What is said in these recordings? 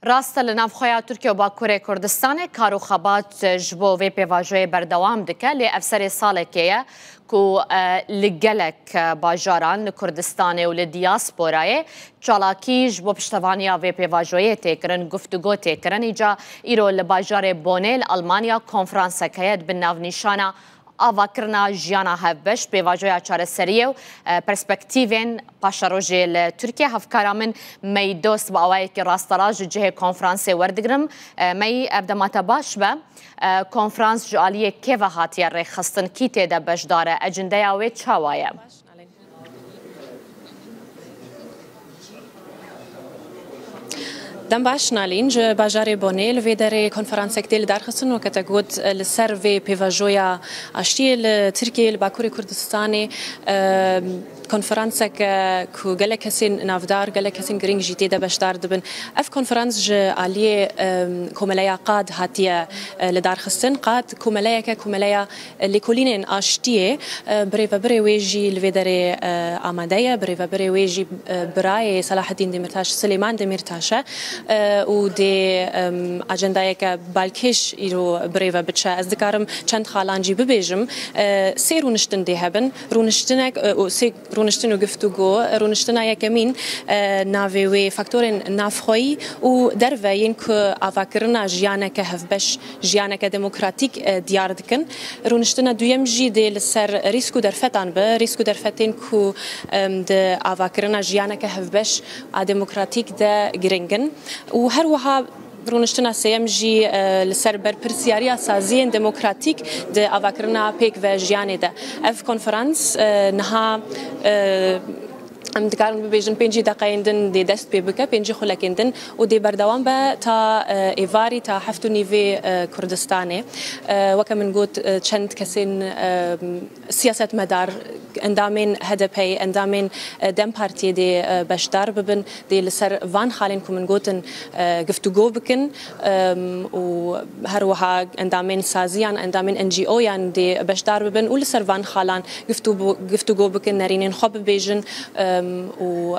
Rast e li navxweya Tirkiye û Bakurê Kurdistanê kar û xebat ji bo vê pêvajoyê berdewam dike lê ev serê salekê ye ku li gelek bajaran li Kurdistanê û li diyasporayê çalakî ji bo piştevaniya vê pêvajoyê tê kirin, guftugo tê kirin. Îca îro li bajarê Bonê li Elmanya konfransek heye di bin navnîşana Avakirina jiyana hevbeş pêvajoya çareseriyê û perspektîvên paşerojê li Tirkiye. Hevkara min Mey Dost bi awayekî rasterast ji cihê konferansê werdigirim. Mey, ev dema te baş be. Konferans ji aliyê kê ve hatiye rêxistin, kî tê de beşdar e, ecindeya wê çawa ye? Dem baş Nalîn ji bajarê Bonê li vê derê konferansek tê lidarxistin û kete got li ser vê pêvajoya aştiyê li Tirkiyeyê li Bakurê Kurdistanê konferansek ku gelek kesên navdar gelek kesên girîng jî tê de beşdar dibin. Ev konferans ji aliyê komeleya qad hatiye lidarxistin. Qad komeleyeke komeleya Lêkolînên Aştiyê bi rêvebirê wê jî li vê derê amade ye. Bi rêvebirê wê jî birayê Selaheddîn Demîrtaş Silêman Demîrtaş e û dê ajendayeke balkêş îro bi rêve biçe. Ez dikarim çend xalan jî bibêjim. Sê rûniştin dê hebin. Rûniştinek û sê. Rûniştin û giftûgo, rûniştina yekemîn navê wê faktorên navxweyî û derve yên ku avakirina jiyaneke hevbeş, jiyaneke demokratîk diyar dikin. Rûniştina duyem jî dê li ser rîsk û derfetan be, rîsk û derfetên ku di avakirina jiyaneke hevbeş a demokratîk de giring in û her wiha, Rûniştina sêyem jî li ser berpirsyariya saziyên demokratîk di avakirina pêk ve jiyanê de. Ev konferans niha em dikarin bibêjin pêncî deqeyên din dê dest pê bike, pêncî xulekên din û dê berdewam be ta êvarî ta heft û nîvê Kurdistanê. Weke min got çend kesên. Siyasetmedar, endamên HDP'ê, endamên dem Partiyê dê beşdar bibin, dê li ser van xalên ku min gotin giftûgo bikin û her wiha endamên saziyan, endamên NGO'yan dê beşdar bibin û li ser van xalan giftûgo bikin, nerînên xwe bibêjin û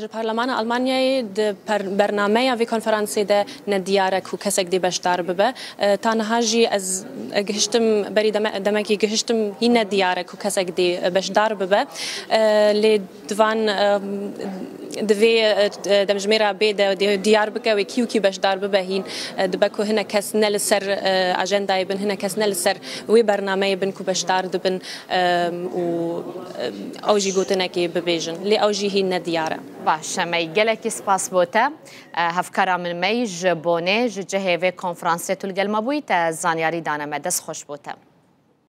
Ji Parlemana Almanyayê di bernameya vê konferansê de ne diyar e ku kesek dê beşdar bibe. Ta niha jî ez gihiştim berî demekî gihiştim hîn ne diyar e ku kesek dê beşdar bibe. Lê Di van di vê demjimêra bê de diyar bike wê kî û kî beşdar bibe hîn dibe ku hinek kes ne li ser ajendayê bin, hinek kes ne li ser wê bernameyê bin ku beşdar dibin û ew jî gotinekê bibêjin. Lê ew jî hîn ne diyar e. Baş e mey. Gelekî spas bo te. Hevkara min mey ji bonê ji cihê vê konfransê tu li gel me bûyî te zanyarî dane me. Dest xweş bo te.